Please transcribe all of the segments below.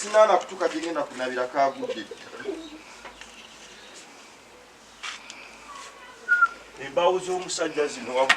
sinaana kutuuka gye ngenda kunabira kagudde embaawo z'omusajja zino wamu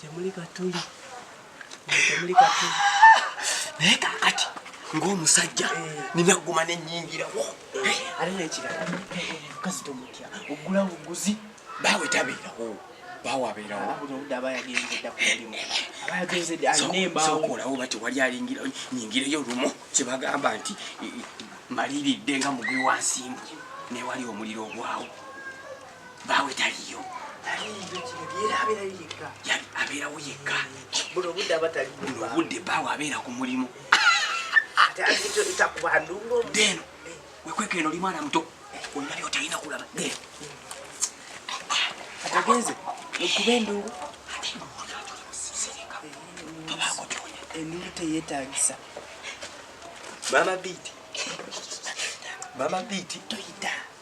temuli katuli temuli katuli naye kakati ng'omusajja nina guma nenyingirawo ali nekirala mukazi tomutya ogula buguzi baawe tabeerawo baawe abeerawo buno obudde aba yagenzeedda ku mulimu aba yagenzeedde alina embaawo okolawo bati wali alingira nyingireyo lumu kyebagamba nti maliridde nga mubi wansimbu newali omuliro ogwawo baawe taliyo abeerawo yekka buno obudde baawe abeera ku mulimu deno wekweka eno oli mwana muto olina byotalina kulaba deno atagenze okuba endungu endungu teyetagisa mama biiti mama biiti toyita